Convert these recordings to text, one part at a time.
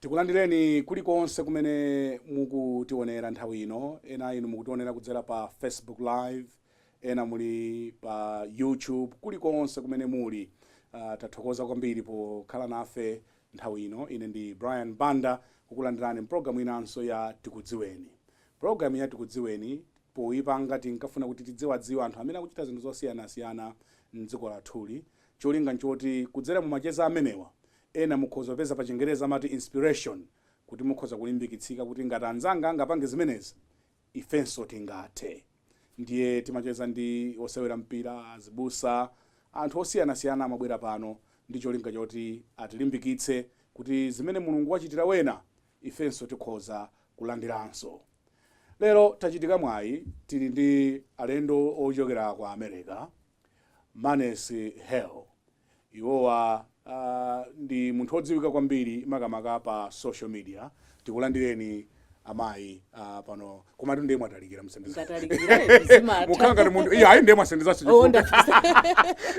Tikulandireni kulikonse kumene mukutiwonera nthawi ino. Ena inu mukutiwonera kudzera pa Facebook live, ena muli pa YouTube. Kulikonse kumene muli, tathokoza kwambiri pokhala nafe nthawi ino. Ine ndi Brian Banda kukulandirani m'pulogalamu inanso ya Tikudziweni. Pulogalamu ya Tikudziweni poyipanga tinkafuna kuti tidziwadziwa anthu amene akuchita zinthu zosiyanasiyana m'dziko lathuli. Cholinga n'choti kudzera mu macheza amenewa, Ena mukhoza kupeza pa chingereza amati inspiration kuti mukhoza kulimbikitsika kuti ngati anzanga angapange zimenezi ifenso tingathe. Ndiye timacheza ndi osewera mpira, azibusa, anthu osiyanasiyana amabwera pano ndi cholinga choti atilimbikitse kuti zimene Mulungu wachitira wena ifenso tikhoza kulandiranso. Lero tachitika mwayi tili ndi alendo ochokera ku America. Manes Hale iwowa aah ndi munthu odziwika kwambiri makamaka pa social media tikulandireni amayi aah pano komatu ndiye mwatalikira musendeza Ngatalikireni, zimatha. mukhala ngati munthu iya ayi ndiye mwasendezaso Oh, nda-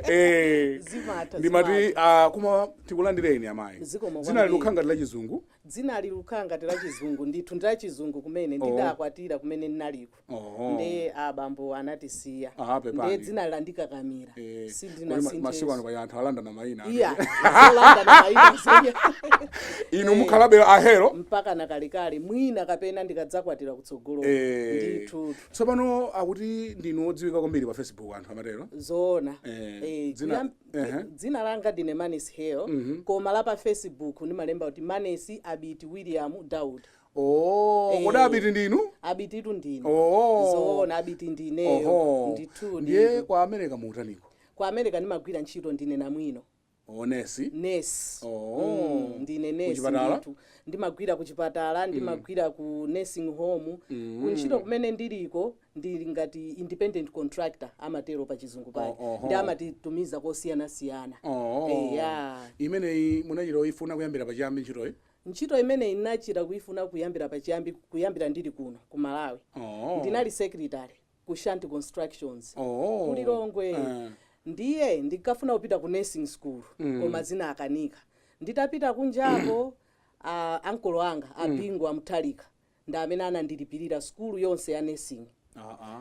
eh Zimatha, ndimati zimatha. aah koma tikulandireni amayi Zikomo dzina kwambiri. lilukhala ngati la chizungu dzina lilukhala ngati la chizungu ndithu ndi la chizungu kumene Oh. ndidakwatira kumene ndinaliko Oho. nde abambo anatisiya Ah, pepani. nde dzina landikakamira Eh, kodi sindina ma- masiku ano sinthe pali anthu alandana mayina iya zolandana mayina zenya inu mukhalabe a Hale mpaka nakalekale mwina kapena ndikadzakwatira kutsogolo Eh. ndithu tsopano akuti ndinu odziwika kwambiri pa facebook anthu amatero zoona Eh, Eh, dzina- kuyam- ehe. dzina langa ndine manes Hale koma la pa facebook ndimalemba kuti manes abiti william daud Oh, Eh. kodi abiti ndinu? abititu ndine Oh. zoona abiti ndineyo Oho. ndithu Ndiye ndithu. kwa America muutaniko. kwa america ndimagwira ntchito ndine namwino O nesi. nesi Oh. Mm, ndine nesi Kuchipatala? ndithu ndimagwira kuchipatala ndimagwira ku nursing home kuntchito kumene ndiliko ndili ngati independent contractor amatero pa chizungu pake Oh, oho. nde amatitumiza kosiyanasiyana Oh. Eya. Imeneyi munachita kuifuna kuyambira pachiyambi ntchitoyi? Ntchito imeneyi nnachita kuifuna kuyambira pachiyambi kuyambira ndili kuno ku Malawi. Oh. Ndinali secretary ku Shanti Constructions Oh. ku Lilongwe. Eh. Ndiye ndinkafuna kupita ku nursing school koma zinakanika. Nditapita kunjako a ankolo anga a Bingu a Mutharika ndi amene anandilipirira sukulu yonse ya nursing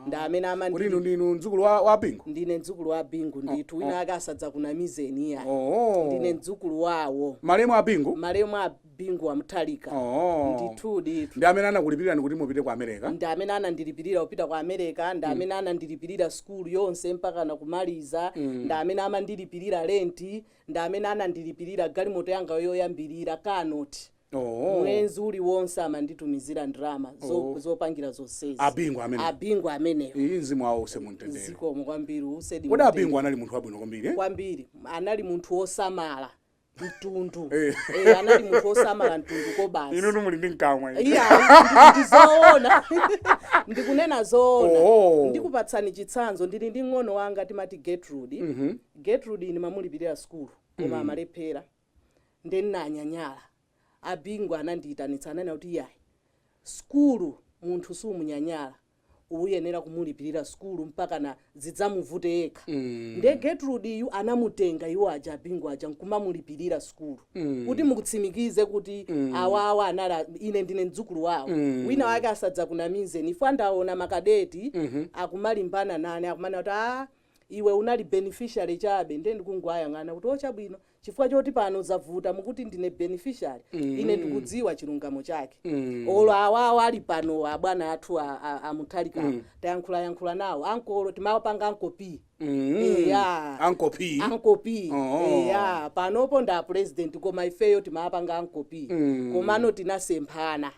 ndi amene kuti amandili kuti inu ndinu mdzukulu wa, wa bingu ndine mdzukulu wa bingu ndithu wina ake asadzakunamizeni iya oh. ndine mdzukulu wawo malemu a bingu malemu a bingu wa muthalika oh. ndithu ndithu ndi amene anakulipirani kuti mupite ku america ndi amene anandilipirira kupita ku america ndi amene anandilipirira sukulu yonse mpaka nakumaliza ndi amene amandilipirira lenti ndi amene anandilipirira galimoto yanga yoyambirira kanoti Mwezi uliwonse amanditumizira ndalama zo, Oh. zopangira zonsezi. Abingu amenewo. Abingu amenewo. Iyi mzimu wawo use mumtendere. Zikomo kwambiri usedi. Kodi mtendere. Abingu anali munthu wabwino kwambiri eh? kwambiri anali munthu wosamala mtundu Eh. Eh, anali munthu wosamala mtundu kobasi Inu muli ndi mkamwa. inu. iya ndi- ndizoona ndikunena zoona Oh. ndikupatsani chitsanzo ndili ndi mng'ono wanga timati getrude getrude nimamulipirira sukulu koma amalephera nde nnanyanyala a Bingu anandiitanitsa ananena kuti iyayi sukulu munthu sumunyanyala uyenera kumulipirira sukulu mpakana zidzamuvute yekha nde Getrude yu anamutenga iwo aja a Bingu aja nkumamulipirira sukulu kuti mutsimikize kuti awawa anali a- ine ndine mdzukulu wawo wina wake asadzakunamizeni ifu ndaona makadeti akumalimbana nane akumanena kuti a iwe unali beneficiary chabe ndiye ndikungowayang'ana kuti o chabwino chifukwa choti pano zavuta mukuti ndine beneficiary ine ndikudziwa chilungamo chake olo awawo ali pano abwana athu a- a- amuthalikawo tayankhulayankhula nawo ankolo timawapanga ankopi eya ankopi ankopi Oh. eya panopo nda president koma ifeyo timapanga ankopi komano tinasemphana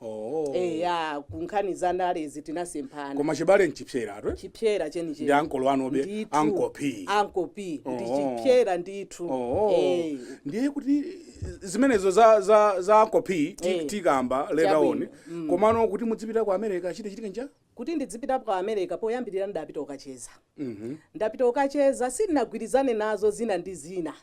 Oh. eya ku nkhani za ndalezi tinasemphana Koma chibale nchipsera atwe. chipsera chenicheni Ndi ankolo anube, Ndithu. Uncle P. Uncle P. ndi Oh. chipsera ndithu Oh. Eh, Ndiye kuti zimenezo za za za Uncle P ti- Eh. tikamba later on. Chabwino. Komano kuti mudzipita ku America chidachitika ncha? kuti ndidzipita ku america poyambirira ndapita ukacheza Mhm. ndapita ukacheza sindinagwirizane nazo zina ndi zina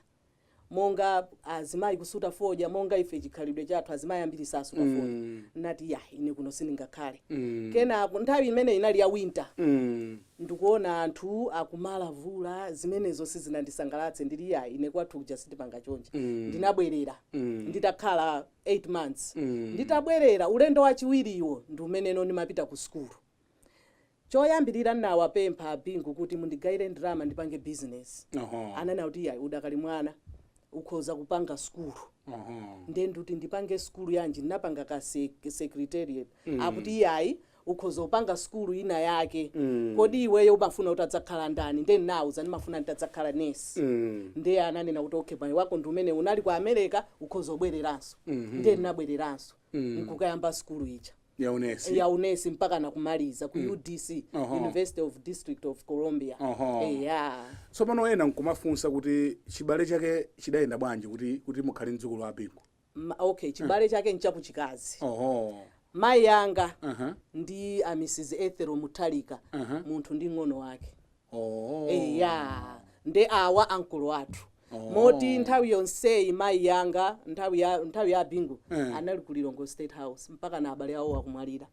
monga azimayi kusuta fodya monga ife chikhalidwe chathu azimayi ambiri sasuta fodya Mm. nati ya ine kuno sindingakhale Mm. kenako nthawi imene inali ya winter Mm. ndikuona anthu akumalavula zimenezo sizinandisangalatse ndili ya ine kwathu kuja sitipanga chonje Mm. ndinabwerera Mm. nditakhala 8 months Mm. nditabwerera ulendo wachiwiriwo ndi umeneno ndimapita ku sukulu Choyambilira nnawapempha a Bingu kuti mundigaire ndalama ndipange business. Ananena kuti iyayi udakali mwana ukhoza kupanga sukulu. Nde nduti ndipange sukulu yanji? Nnapanga ka secretariat. Akuti iyayi ukhoza kupanga sukulu ina yake. Kodi iweyo umafuna utadzakhala ndani? Nde nnawauza ndimafuna ntadzakhala nurse. Nde ananena kuti okay mwayi wako ndi umenewu. Unali ku America ukhoza kubwereranso. Nde nnabwereranso. mm. nkukayamba sukulu ija ya unesi ya unesi mpaka nakumaliza ku udc Oho. university of district of columbia Oho. eya tsopano ena nkumafunsa kuti chibale chake chidayenda bwanji kuti kuti mukhale mdzukulu wa a Bingu Ma- okay chibale chake nchakuchikazi oho mayi anga Aha. ndi a mrs Ethel Mutharika munthu ndi ng'ono wake Oh. eya nde awa ankulu athu Oh. moti nthawi yonseyi mayi yanga nthawi ya nthawi ya a Bingu Eh. anali ku lilongwe state house mpaka na abale awo akumwalira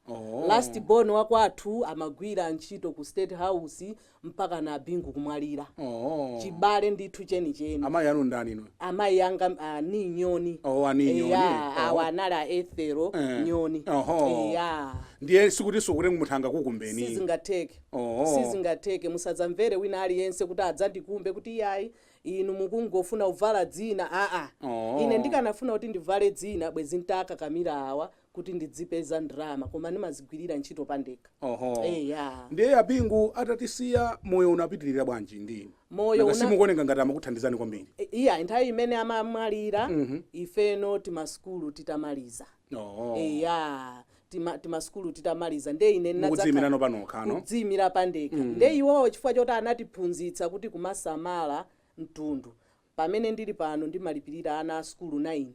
Oh. last born wakwathu amagwira ntchito ku state house mpaka na a Bingu kumwalira Oh. chibale ndithu chenicheni amayi anu ndani inu amayi anga ah, ni nyoni Oh, ani nyoni. Eya, Oh. awa anali a Ethel Eh. nyoni Oho. eya ndiye sikuti sizingatheke munthu angakukumbeni sizingatheke Oho. Sizingatheke. Musadzamvere wina aliyense kuti adzandikumbe kuti, Iai, inu mukungofuna kuvala dzina. Aa! Ine Oho. ndikanafuna kuti ndivale dzina bwezi n'takakamira awa kuti ndidzipeza ndrama, koma ndimazigwirira ntchito pandekha. Oho. Eya. Ndiye a Bingu atatisiya, moyo unapitirira bwanji ndi inu? Moyo Nanga una. simukuoneka ngati amakuthandizani kwambiri? I- Iyayi, nthawi imene amamwalira, Mhm. ifeno timasukulu titamaliza. Oh. eya tima, timasukulu titamaliza nde ine ndinadzakhala- mukudziyimirano panokha kudziyimira pandekha nde iwowo chifukwa choti anatiphunzitsa kuti kumasamala mtundu pamene ndili pano ndimalipirira ana a sukulu 9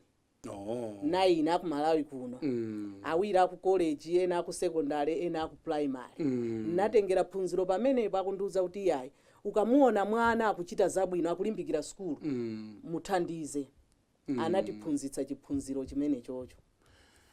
Oh. 9 aku malawi kuno Mm. awiri aku college ena aku secondary ena aku primary Mm. natengera phunziro pamenepo akundiuza kuti iyayi ukamuona mwana akuchita zabwino akulimbikira sukulu Mm. muthandize anatiphunzitsa chiphunziro chimenechocho.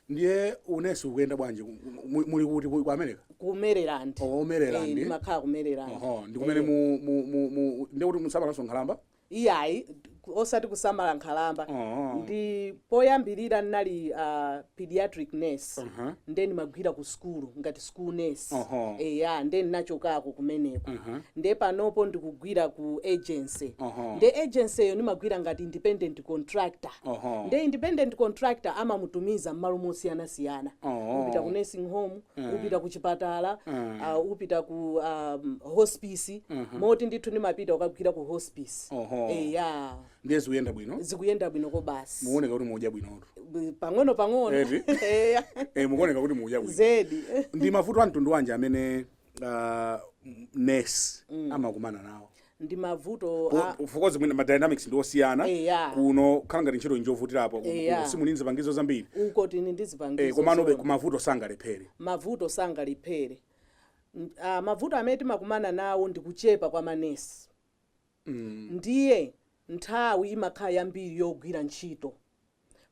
ndiye unesi ukuyenda bwanji Ku- ku- mu- muli kuti ku ku america ku maryland Oh, ku Maryland. Eh, ndimakhala ku maryland oho ndi kumene Eh, mu- mu- mu- mu- ndiye kuti mumasamalanso nkhalamba iyayi ku- osati kusamala nkhalamba Oh. ndi poyambirira ndinali uh, pediatric nurse Uh-huh. ndiye ndimagwira ku sukulu ngati school nurse Oho. eya nde ndinachokako kumeneko nde panopo ndikugwira ku agency Oho. nde agency yo ndimagwira ngati independent contractor Oho. nde independent contractor amamutumiza mmalo mosiyanasiyana Oho. upita ku nursing home upita ku chipatala uh, upita ku um, hospice moti ndithu ndimapita ukagwira ku hospice Oho. eya ndiye zikuyenda bwino zikuyenda bwino kobasi mukuoneka kuti mudya bwinotu B- pang'ono pang'ono Eti? Eya. Eh, mukuoneka kuti mudya bwino zedi ndi mavuto a mtundu wanji amene ah, m- nurse amakumana nawo ndi mavuto a- chifukwa mwina ma dynamics ndi osiyana Eya. kuno khala ngati ntchito njovutirapo Eya. simuli ndi zipangizo zambiri uko muli ndi Eh, zipangizo komanobe zoona. mavuto sangalephere mavuto sangalephere N- ah, mavuto amene timakumana nawo ndi kuchepa kwa manesi Ndiye nthawi imakhala yambiri yogwira ntchito.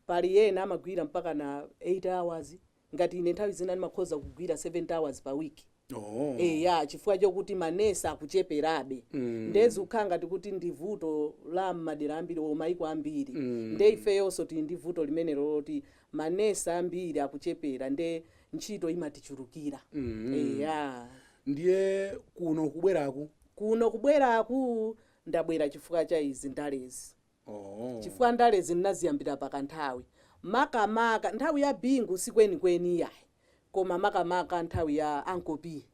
Pali ena amagwira mpakana 8 hours, ngati ine nthawi zina ndimakhoza kugwira 70 hours pa week. Eya, chifukwa chokuti ma nurse akucheperabe. Ndiye zikukhala ngati kuti ndi vuto la m'madera ambiri or maiko ambiri. Ndiye ifeyonso tili ndi vuto limene loti manesi ambiri akuchepera ndiye ntchito imatichulukira. Eya. Ndiye kuno kubweraku kuno kubweraku ndabwera chifukwa cha izi ndalezi chifukwa ndalezi ndinaziyambira pakanthawi makamaka nthawi ya Bingu si kwenikweni iyayi koma makamaka nthawi ya Uncle P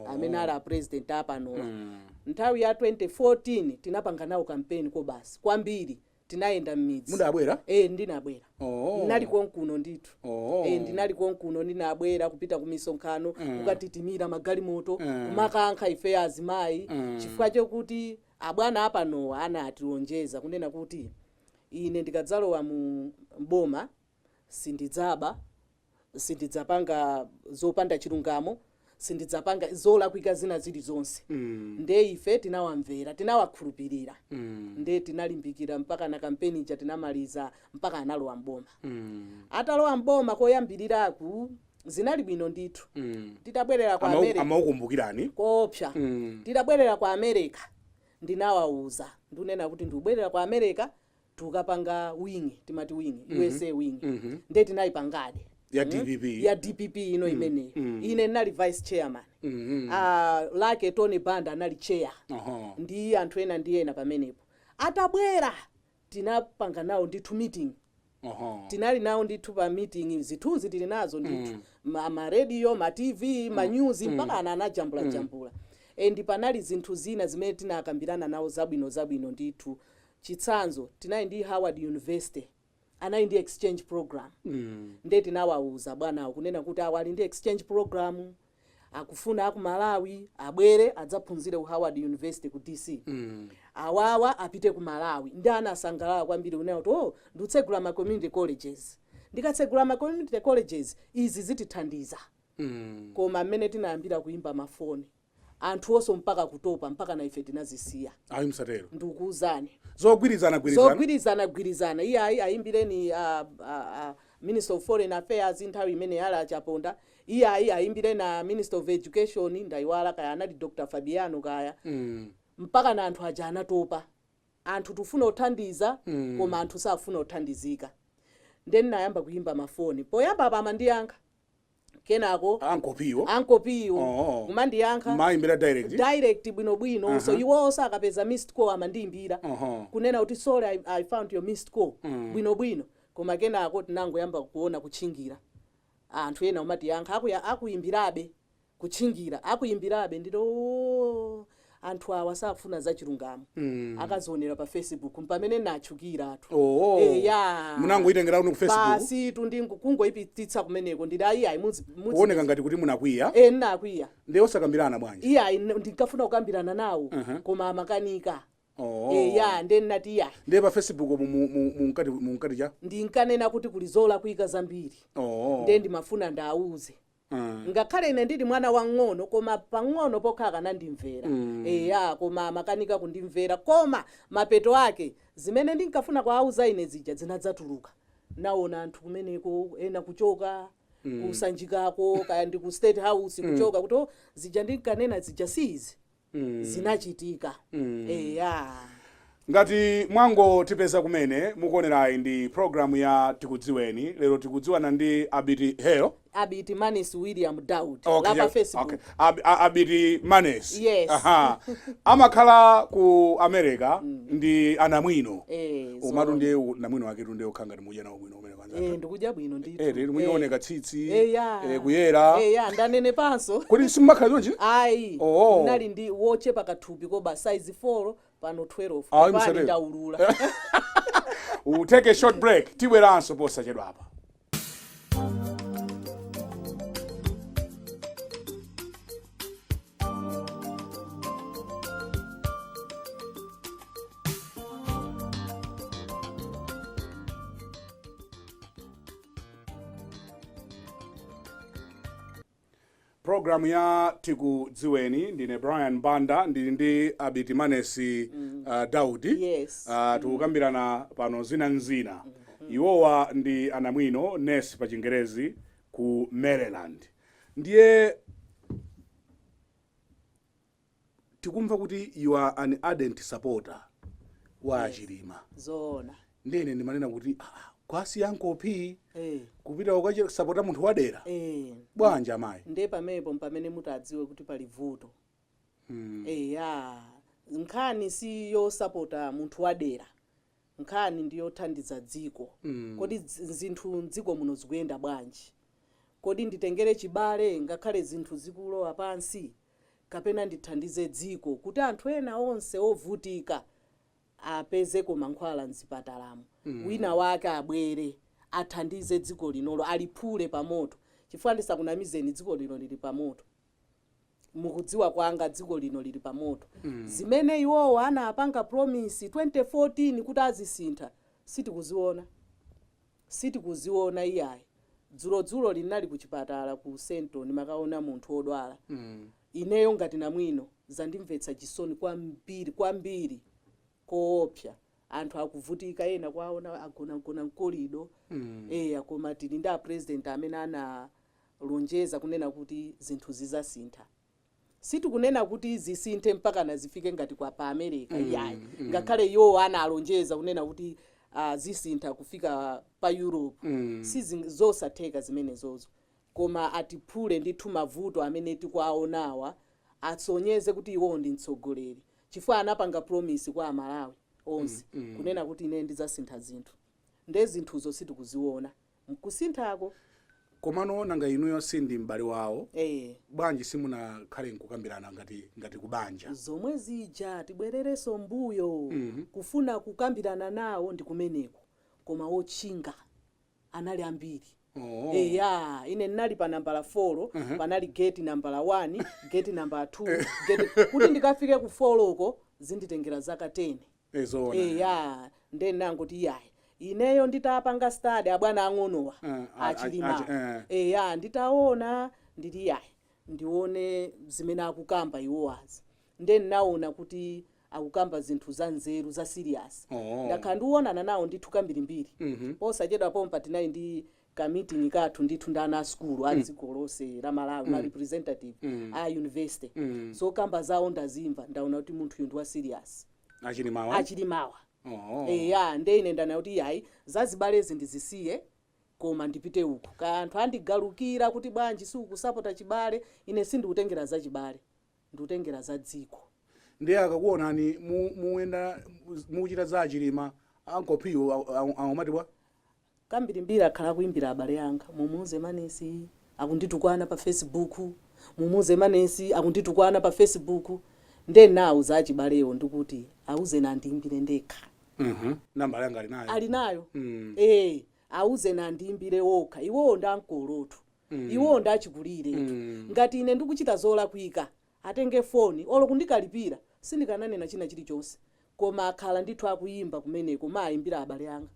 amene ali a president apanowa nthawi ya 2014 tinapanga nawo kampeni kobasi kwambiri tinayenda mmidzimu munabwera e, ndinabwera oh. ndinali konkuno ndithu oh. e, ndinali konkuno ndinabwera kupita ku misonkhano mm. kukatitimira magalimoto mm. kumakankha ife azimayi mm. chifukwa chokuti abwana apanowa anatilonjeza kunena kuti ine ndikadzalowa mu mboma sindidzaba sindidzapanga zopanda chilungamo sindidzapanga zolakwika zina zilizonse mm. nde ife tinawamvera tinawakhulupirira mm. nde tinalimbikira mpakana kampeni ija tinamaliza mpaka analowa mboma mm. atalowa mboma koyambiriraku zinali bwino ndithu mm. titabwerera ku america amakukumbukirani koopsa mm. titabwerera ku america ndinawauza kunena kuti ndikubwerera ku america tukapanga wing timati wing usa wing nde tinayipangadi Ya Mm. DPP. ya dpp ino imeneyo ine ndinali vice chairman Ah, lake tony banda anali chair Aha. ndi anthu ena ndi ena pamenepo atabwera tinapanga nawo ndithu meeting Aha. tinali nawo ndithu pa meeting zithunzi tili nazo ndithu ma, ma radio ma tv ma news mpakana anajambula jambula and panali zinthu zina zimene tinakambirana nawo zabwino zabwino ndithu Chitsanzo, Tinali ndi Howard University, anali ndi exchange program. Ndiye tinawauza abwanawo kunena kuti awa ali ndi exchange program, akufuna a ku Malawi abwere adzaphunzire ku Howard University ku DC. Awawa apite ku Malawi. Ndiye anasangalala kwambiri kunena kuti, oh, nditsegula ma community colleges. Ndikatsegula ma community colleges, izi zitithandiza. Koma mmene tinayambira kuimba mafoni, anthuwonso mpaka kutopa mpakana ife tinazisiya Ayi msatero. ndikukuuzani Zogwirizana gwirizana. zogwirizana gwirizana iyayi ayimbireni a, a, a minister of foreign affairs nthawi imeneyo anali a chaponda iyayi ayimbireni a minister of education ndayiwala kaya anali dr fabiano kaya Mm. mpakana anthu aja anatopa anthu tikufuna kuwathandiza mm. koma anthu safuna kuthandizika nde ninayamba kuyimba mafoni poyambapa amandiyankha kenako ankopiwo ankopiwo Oh. kumandiyankha maimbira direct direct bwinobwino Aha. so iwowo akapeza missed call amandiimbira Aha. kunena kuti sorry I, i found your missed call Mm. bwinobwino koma kenako tinangoyamba kuona kutchingira anthu ena kumatiyankha akuya akuimbirabe kutchingira akuimbirabe ndito "Oh, anthu awa safuna zachilungamo akazionera pa facebook mpamene natchukiratu Oh. eya Munangoyitengera kuno ku Facebook? basitu ndi kungoyipititsa kumeneko ndili ayi ayi mudzi mudzi- kuoneka ngati kuti munakwiya eh nakwiya nde osakambirana bwanji iyayi n- ndinkafuna kukambirana nawo koma amakanika Oh. eya nde ndinati iyayi ndiye pa facebook mu- mu- mu- munkati munkati cha ndinkanena kuti kuli zolakwika zambiri oh. nde ndimafuna ndauze Ngakhale ine ndili mwana wang'ono koma pang'ono pokha akanandimvera. Eya, koma amakanika kundimvera. Koma mapeto ake zimene ndinkafuna kuwauza ine zija zinadzatuluka. Ndinaona anthu kumeneko ena kuchoka ku Sanjikako kaya ndi ku State House kuchoka kuti oh, zija ndinkanena zija si izi. zinachitika eya ngati mwangotipeza kumene mukuonerayi ndi programu ya tikudziweni lero tikudziwana ndi abiti heyo abiti manes william daud okay, la pa yeah, facebook okay. Ab, a- abiti manes Yes. Aha. amakhala ku america ndi anamwino Eh, umatu zoona. ndiye u- namwino waketu ndiye ukhala ngati mudya nawo bwino umene Eh, ndikudya bwino ndithu. Eh, lero mukuoneka tsitsi. Eh, ya. Eh, kuyera. Eh, ya, ndanenepanso. Kodi simumakhala chonchi? Ayi. Oh. Ndinali ndi wochepa kathupi koba size 4 pano 12. Ayi, Pali musatero. ndaulula. We'll take a short break. Tibweranso posachedwapa. programu ya tikudziweni ndine brian banda ndili ndi abiti manesi uh, daudi Yes. uh, tikukambirana pano zina nzina iwowa ndi anamwino nesi pa chingerezi ku maryland Ndiye tikumva kuti you are an ardent supporter wa Yes. a Chilima. zoona Ndiye ine ndimanena kuti ah, ah, kuwasiya ankopi Eh, kupita kukasapota munthu wadera. eh. Bwanji amayi. nde pamenepo mpamene mutadziwe kuti pali vuto Mm. eya nkhani si yosapota munthu wadera Nkhani ndi yothandiza dziko. Kodi zinthu m'dziko muno zikuyenda bwanji? Kodi nditengere chibale ngakhale zinthu zikulowa pansi kapena ndithandize dziko kuti anthu ena onse ovutika apezeko mankhwala m'zipatalamo, wina wake abwere athandize dziko linolo, aliphule pamoto? Chifukwa ndisakunamizeni dziko lino lili pamoto. mukudziwa kwanga dziko lino lili pa moto zimene iwowo anapanga promise 2014 kuti azisintha sitikuziona sitikuziona iyayi dzulodzulo ndinali ku chipatala ku central ndimakaona munthu odwala ineyo ngati namwino zandimvetsa chisoni kwambiri kwambiri koopsa anthu akuvutika ena kuwaona agonagona mkolido eya koma tili ndi apresident amene ana lonjeza kunena kuti zinthu zizasintha sitikunena kuti zisinthe mpakana zifike ngati kapena america mm, iyayi mm, mm. ngakhale mm. iwowo analonjeza kunena kuti uh, zisintha kufika pa europe mm. sizosatheka zimenezozo koma atiphule ndithu mavuto amene tikuwaonawa asonyeze kuti iwowo ndi mtsogoleri chifukwa anapanga promise kwa amalawi onse mm, mm. kunena kuti ine ndizasintha zinthu nde zinthuzo sitikuziona mkusinthako. Komano nanga inuyo si ndinu m'bale wawo Eee. bwanji simunakhale nkukambirana ngati ngati kubanja? Zomwe zija tibwerereso mbuyo kufuna kukambirana nawo ndi kumeneko koma otchinga anali ambiri Oho. eya ine ndinali pa nambala folo panali gate nambala wani gate nambala thuu gate kuti ndikafike ku foloko zinditengera zaka teni. Eh, zoona. eya nde ndinangoti iyayi ineyo nditapanga stadi abwana ang'onowa Eh, a- a- achilima achi- eh. eya nditaona nditi iyayi ndione zimene akukamba iwowazi nde ndinaona kuti akukamba zinthu za nzeru za siriyasi Oh. ndakhala ndionana nawo ndithu kambirimbiri Mhm. posachedwa pompa tinali ndi ka meeting kathu ndithu ndi ana a sukulu a dziko lonse la Malawi ma representative a university zokamba zawo ndazimva ndaona kuti munthuyu ndi wa serious achilimawa achilimawa oh. eya nde ine ndaona kuti yayi zazibalezi ndizisiye koma ndipite uku kaya anthu andigalukira kuti bwanji siukusapota chibale ine sindikutengera za chibale ndikutengera za dziko ndiye akakuonani mu- muyenda mukuchita za achilima ankolowo akumati bwa Kambirimbiri akhala akuimbira abale anga, Mumuuze Manesi akunditukwana pa fesibuku, mumuuze Manesi akunditukwana pa fesibuku. Ndiye ndinawauza achibalewo ndikuti, Auzeni andiimbire ndekha. Nambala yanga ali nayo? Ali nayo, ee. Auzeni andiimbire okha. Iwowo ndi ankolo. Iwowo ndi achikulire. Ngati ine ndikuchita zolakwika, atenge foni. Olo kundikalipira, sindikananena china chilichonse. Koma akhala ndithu akuimba kumeneko, kumaimbira abale anga.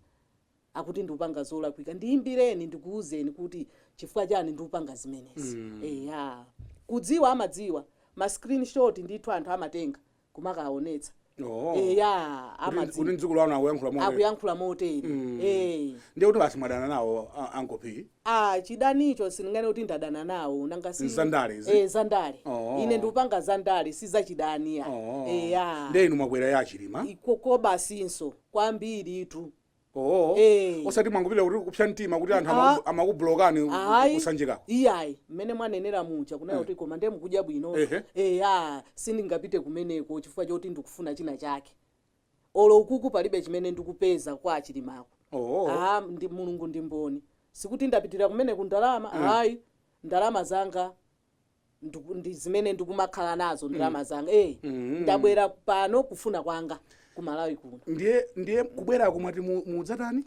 akuti ndupanga zolakwika ndiimbireni ndikuuzeni kuti chifukwa chani ndupanga zimenezi eya kudziwa amadziwa ma screenshot ndithu anthu amatenga kumakaonetsa Oh. eya Kuti- kuti amadziwa mdzukulu wanu akuyankhula moyo akuyankhula motere eh ndiye kuti basi mwadana nawo a- ankopi ah chidanicho sindinganene kuti ndadana nawo nanga si Zandale izi? eh zandale Oh. ine ndikupanga zandale si zachidani ayi eya ndiye inu mwakwera ya chilima ikoko basinso kwambiritu oo Eh. osati mwangopita kuti kupsa mtima kuti anthu Ah. amaku- amakubulokani ayi kusanjikako iyayi mmene mwanenera muja kunena kuti koma ndiye mukudya bwino Ehe. eya sindingapite kumeneko chifukwa choti ndikufuna china chake olo ukuku palibe chimene ndikupeza kwa achilimako oo Ah, mulungu ndi mboni sikuti ndapitira kumeneko ndalama ayi ndalama zanga ndiku- ndi zimene ndikumakhala nazo ndalama zanga eh Mm. ndabwera pano kufuna kwanga ku malawi kuno ndiye ndiye kubwerako mwati mu- mudzatani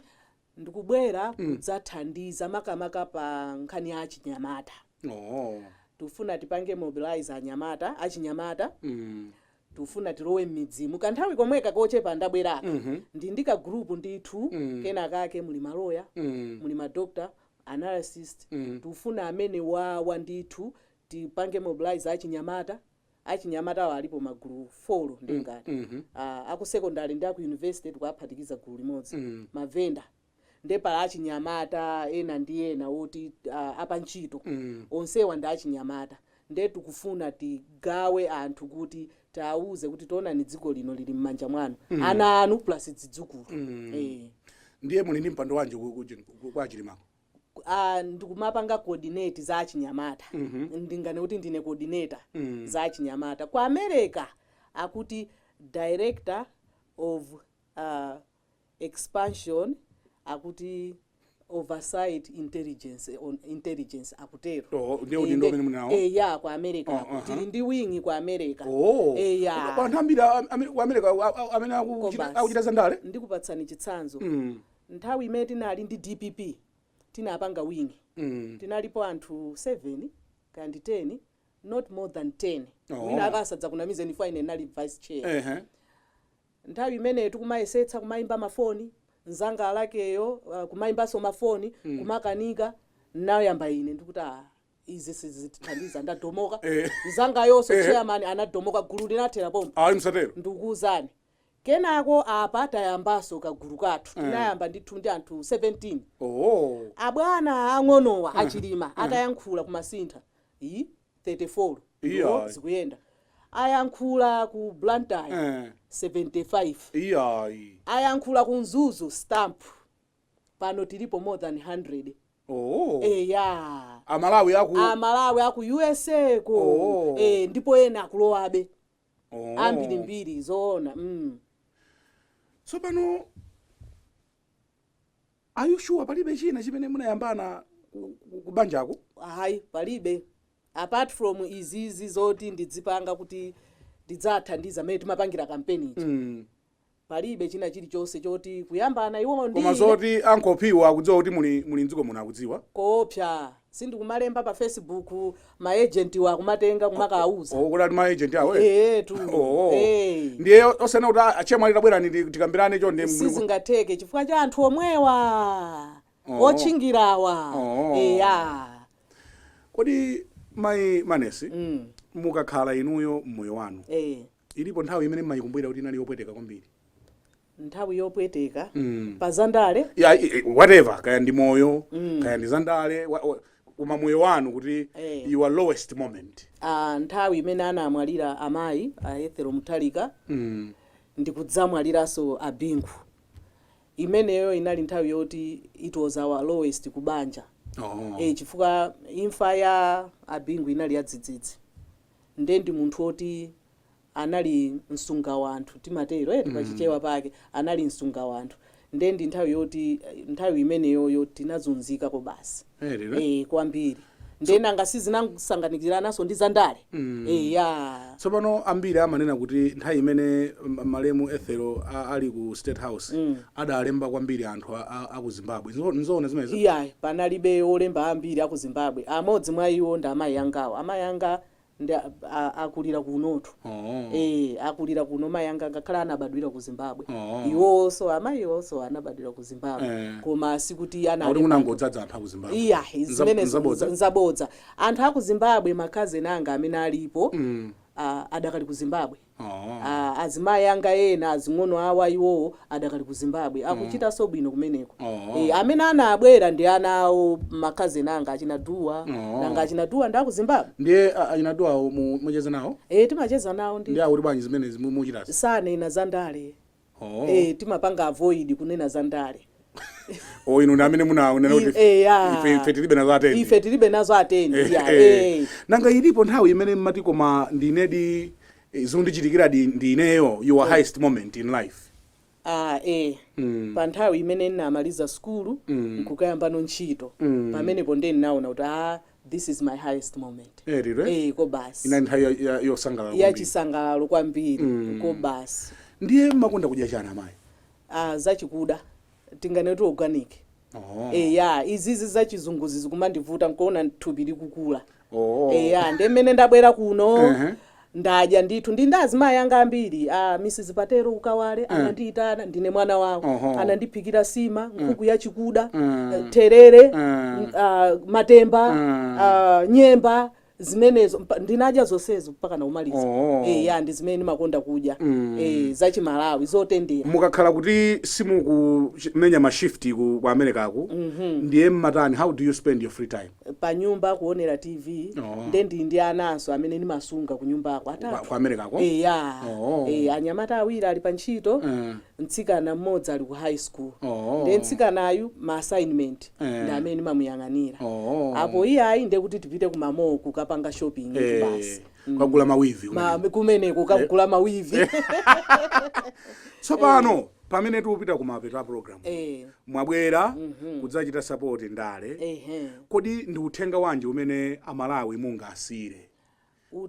ndikubwera kudzathandiza makamaka pa nkhani ya achinyamata oh. tikufuna tipange mobilize anyamata achinyamata mm. tikufuna tilowe mmidzimu kanthawi komweka kochepa ndabweraka ndili ndi ka group ndithu kenakake muli ma lawyer muli ma doctor analyst tikufuna amenewawa ndithu tipange mobilize achinyamata achinyamata awo alipo magulu 4 ndingati a aku secondary ndi aku university tikuwaphatikiza gulu limodzi mavenda nde pali achinyamata ena ndi ena oti uh, apantchito mm. onsewa ndi achinyamata nde tikufuna tigawe anthu kuti tiwauze kuti taonani dziko lino lili m'manja mwanu mm. ana anu plus zidzukulu mm. eh. ndiye muli ndi mpando wanji ku- ku- ku- kwa achilimako Ah, ndikumapanga coordinate za achinyamata ndinganene kuti ndine coordinator za achinyamata ku america akuti director of uh, expansion akuti oversight intelligence on intelligence akutero Oh, ndiye Eh, udindo ndi- umene muli nawo? eh, ya ku america Ah, aha. tili ndi wingi ku america Oh. Eh, ya. Kwa anthu ambiri a- ame- ku America a- a- amene akuchita- Kombasi. akuchita zandale ndikupatsani chitsanzo Mm, nthawi imene tinali ndi dpp tinapanga wingi mm. tinalipo anthu 7 kaya ndi 10 not more than 10 Oh. wina asadzakunamizeni ine nali vice chair Ehe. Nthawi imeneyo tikumayesetsa kumayimba mafoni, mzanga Alekeyo kumayimbanso mafoni kumakanika, ndinayamba ine ndikuti aah izi sizithandiza ndadomoka, mzangayonso chairman anadomoka gulu linathera pompo Ayi msatero. ndikukuwuzani. Kenako apa tayambanso kagulu kathu, tinayamba ndithu ndi anthu 17. Ooo. Abwana aang'onowa a Chilima atayankhula ku Masintha. Iih. 34 Iyayi. nde zikuyenda ayankhula ku blantyre Eh. 75 iyayi ayankhula ku mzuzu stamp pano tilipo more than 100 oh. eya amalawi aku usa ko Oh. eh, ndipo ena akulowabe oh. ambirimbiri zoona mm. tsopano Are you sure palibe china chimene munayambana ku, ku, ku banjako? Ayi, palibe. Apart from izizi zoti ndidzipanga kuti ndidzathandiza mmene timapangira kampeni ija. Mm. Palibe china chilichonse choti kuyambana iwo ndi Koma zoti ankolowa akudziwa kuti muli muli mdziko muno akudziwa. koopsa. sindikumalemba pa facebook ma agent wa kumatenga kumakauza oh, kodi ali ndi ma agent awo eh? eh tu Oh, oh. eh ndiye zonena kuti a- achemwali tabwerani ndi- tikambirane choncho nde sizingatheke chifukwa cha anthu omwewa Oh. otchingirawa Oh. eya kodi mayi manesi Mm. mukakhala inuyo mmoyo wanu eh ilipo nthawi imene mmayikumbukira kuti inali yopweteka kwambiri nthawi yopweteka pa zandale ya i- i- whatever kaya ndi moyo kaya ndi zandale wa- wa- koma moyo wanu kuti Eh. your lowest moment ah, nthawi imene anamwalira amayi a ethel mutharika mm. ndikudzamwaliranso abingu imeneyo inali nthawi yoti it was our lowest kubanja oh. e, chifukwa imfa ya abingu inali yadzidzidzi nde ndi munthu woti anali msungawanthu timatero eti pa chichewa pake anali msungawanthu nde ndinkanena kuti nthawi imeneyoyo tinazunzika kobasi Really. eh kwambiri nde nanga si zinangosanganikirananso ndi zandale eh ya tsopano ambiri amanena kuti nthawi imene m- malemu ethel a- ali ku state house adalemba kwambiri anthu a- a- a ku zimbabwe Nzo- nzoona zimenezo iyayi panalibe olemba ambiri aku zimbabwe amodzi mwa iwo ndi amayi angawo amayi anga ndi a, a, akulira kunotu Oh. Eh, akulira kuno mayi anga ngakhale anabadwira ku zimbabwe Oh. iwonso amayiwonso anabadwira ku zimbabwe Eh. koma sikuti ana Akuti kunangodzadza anthu aku Zimbabwe. iya Nza- zimenezo nzabodza. nza- nzabodza anthu aku zimbabwe makazeni anga amene alipo ah, adakali ku zimbabwe Aaa azimayi anga ena azing'ono awo iwowo adakali ku Zimbabwe akuchitanso bwino kumeneko ee amene anabwera ndi ana awo ma cousin anga achina Duwa nanga achina Duwa ndi aku Zimbabwe? Ndiye achina Duwawo mumacheza nawo? Eee timacheza nawo ndithu. Ndiye akuti bwanji zimene mukuchitazi? Sananene za ndale. Oh. eh, timapanga avoid kunena za ndale Oh, inu ndi amene munanena kuti eh, ya. ife ife tilibe nazo atende. ife tilibe nazo atende Eh, ya, eh. eh. nanga ilipo nthawi imene mmati koma ndinedi eh, zondichitikira ndi ineyo your highest moment in life Ah, eh. pa nthawi imene ndinamaliza sukulu nkukayambano ntchito pamenepo ndiye ndinaona kuti a This is my highest moment. Eh, lero, eh? Eh, oko basi. inali nthawi ya- ya- yosangalala Ya kwambiri. chisangalalo kwambiri. Mm. Oko basi. ndiye mmakonda kudya chani amayi Ah, zachikuda. Tinganene kuti organic. oh. Eh, ya, izizi zachizunguzi zikumandivuta nkuona thupi likukula. oh. Eh, ya, nde mmene ndabwera kuno. Ehe. Ndadya ndithu ndi ndi azimayi anga ambiri a Mrs Patero ku Kawale anandiitana ndine mwana wawo Oho. anandiphikira sima nkhuku yachikuda eh, therere m- ah, matemba ah, nyemba zimenezo Mpa- ndinadya zonsezo mpaka naumaliza Oho. Eh, ya ndi zimene ndimakonda kudya Eh, zachimalawi zotendera mukakhala kuti simukumenya mashifti ku ku americako ndiye mmatani how do you spend your free time panyumba kuonera tv Oh. nde ndili ndi ananso amene ndimasunga kunyumbako Kwa- atatu kwa americako eya Oh. Eh, anyamata awiri ali pa ntchito Eh. mtsikana mmodzi ali ku high school Oh. nde mtsikanayu ma assignment Eh. ndi amene ndimamuyang'anira Oh. apo iyayi ndi kuti tipite ku ma mall ko kukapanga shopping Eh, basi kukagula mawivi Ma- kumeneko kukagula mawivi tsopano pamene tikupita kumapeto a program e. Eh. mwabwera mm -hmm. kudzachita support ndale e kodi ndi uthenga wanji umene amalawi mungawasire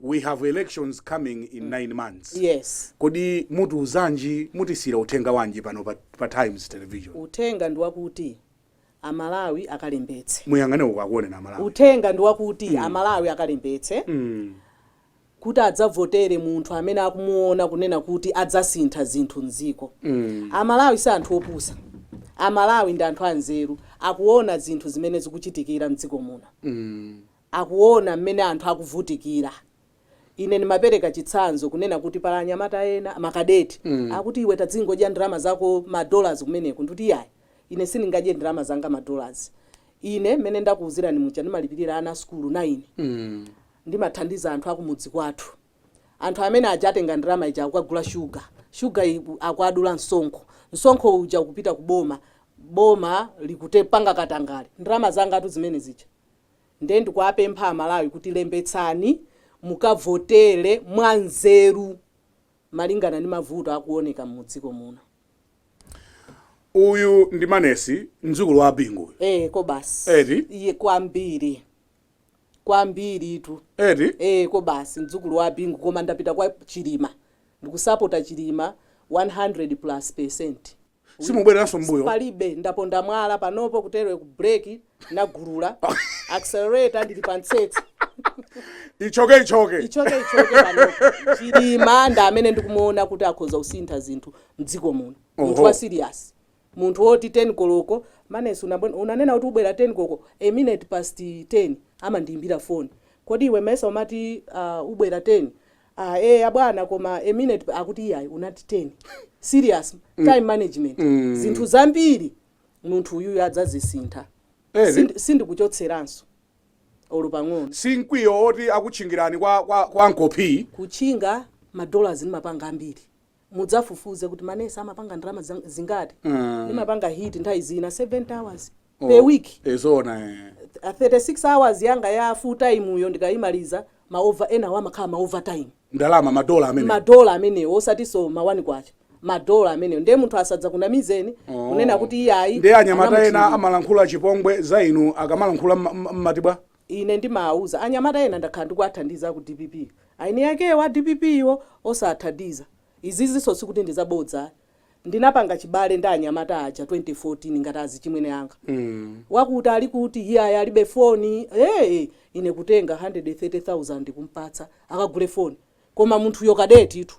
we have elections coming in mm. nine months yes kodi mutiuzanji mutisira uthenga wanji pano pa, pa times television uthenga ndi wakuti amalawi akalembetse muyang'ane uko akuoneni amalawi uthenga ndi wakuti mm. amalawi akalembetse mm. kuti adzavotere munthu amene akumuona kunena kuti adzasintha zinthu mziko. Amalawi si anthu opusa. Amalawi ndi anthu anzeru. Akuona zinthu zimene zikuchitikira mdziko muno. Akuona mmene anthu akuvutikira. Ine ndimapereka chitsanzo kunena kuti pali anyamata ena, ma cadet, akuti iwe tazingodya ndalama zako ma dollars kumeneko. Ndikuti iyayi, ine sindingadye ndalama zanga ma dollars. Ine mmene ndakuuzirani muja ndimalipirira ana a sukulu 9. Ndimathandiza anthu akumudzi kwathu. Anthu amene aja atenga ndalama ija akugula shuga. Shuga yi akuwadula msonkho. Msonkho uja ukupita ku boma. Boma likutapanga katangale. Ndalama zangatu zimene zija. Ndiye ndikuapempha a Malawi kuti lembetsani mukavotere mwanzeru malingana ndi mavuto akuoneka mudziko muno. Uyu ndi Maness, mdzukulu wa a Bingu uyu. Eee kobasi. Eti. Iye kwambiri. kwambiritu Eti? ee kobasi mdzukulu wa Bingu koma ndapita kwa Chilima ndikusapota Chilima 100 plus percent Simubwereranso mmbuyo? palibe ndaponda mwala panopo kutereku ku break nagulula accelerator ndili pa mtsetse Ichoke ichoke. ichoke ichoke panopo Chilima ndi amene ndikumuona kuti akhoza kusintha zinthu mdziko muno munthu Oho. wa serious Munthu woti 10 koloko, Maness unanena kuti ubwera 10 koloko, a minute past 10 amandiyimbira phone, kodi iwe mesa umati uh, ubwera 10, uh, eya bwana koma a minute akuti iyayi unati 10. Serious time management. Zinthu zambiri munthu uyuyu adzazisintha. Eh, zi- Sindi- Sindikuchotseraninso olo pang'ono. si mkwiyo woti akutchingirani kwa, kwa, kwa nkopi Kutchinga madollars ndimapanga ambiri. mudzafufuze kuti Maness amapanga ndalama zang- zingati Mm. ndimapanga hit nthawi zina 70 hours Oh, per week eh, zoona eh. A 36 hours yanga ya full time-yo ndikayimaliza ma over enawo amakhala ma overtime ndalama madola amene madola amenewo osatinso mawani kwacha madola amenewo ndiye munthu asadzakunamizeni Oh. kunena kuti iyayi ndiye anyamata ena amalankhula chipongwe za inu akamalankhula mma- mma- mmati bwa Ine ndimawuza anyamata ena ndakhala ndikuwathandiza aku dpp eni akewo a dpp wo osawathandiza. Izizinso sikuti ndi zabodza ayi. Ndinapanga chibale ndi anyamata aja 2014 ngati azichimwene anga. Wakuti ali kuti? Iyayi alibe foni. Eee! Ine kutenga 130,000 kumpatsa akagule foni. koma munthuyo kadetitu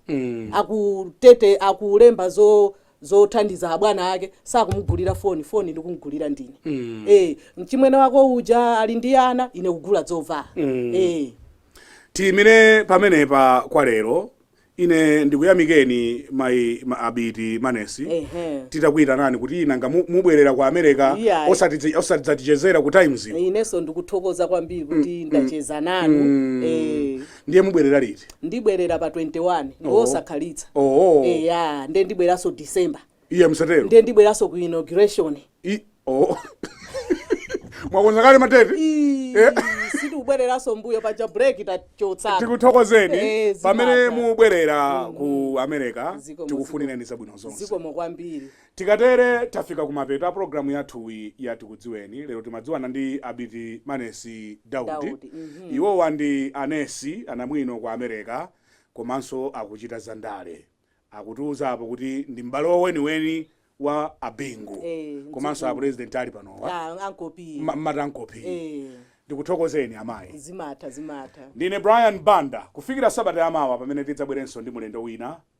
akutete akulemba zo zothandiza abwana ake sakumugulira foni foni ndikumugulira ndi ine eh mchimwene wako uja ali ndi ana ine kugula dzovala eh tiyimire pamenepa kwa lero ine ndikuyamikeni mayi ma- abiti manesi ehe titakuyitanani kuti nanga mu- mubwerera ku america Iyayi. osati- osatidzatichezera ku times inenso ndikuthokoza kwambiri kuti ndacheza nanu eh ndiye mubwerera liti ndibwerera pa 21 Oh. ngosakhalitsa oo eya nde ndibweranso december iye musatero nde ndibweranso ku inauguration I- oo mwakonza kale matete Ii, Eh. sindikubwereranso mbuyo paja break tachotsa tikuthokozeni Eh, zimata. pamene mubwerera ku america Zikomo, tikufunireni zabwino zonse zikomo kwambiri Tikatere tafika kumapeto a program yathuyi ya tikudziweni, lero timadziwana ndi Abiti Manesi Daudi, iwowa ndi a nesi anamwino ku Amereka komanso akuchita za ndale, akutiuza apo kuti ndi m'bale weniweni wa a Bingu komanso a pulezidenti ali panowa, mumati Uncle P, ndikuthokozeni amayi, ndine Brian Banda kufikira sabata ya mawa pamene tidzabwerenso ndi mulendo wina